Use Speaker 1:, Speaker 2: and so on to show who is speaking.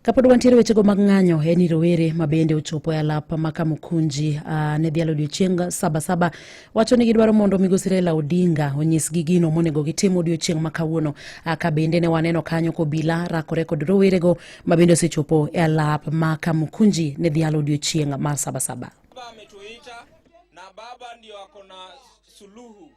Speaker 1: kapod wantiere wechego mag ng'anyo en ni rowere ma bende ochopo e alap ma kamukunji uh, ne dhialo odiochieng sabasaba wacho ni gidwaro mondo migosi raila odinga onyisgi gino monego gitim odiochieng ma kawuono uh, ka bende ne waneno kanyo kobila rakore kod rowerego ma bende osechopo e alap ma kamukunji ne dhialo odiochieng mar sabasaba baba ametuita
Speaker 2: na baba ndio ako na suluhu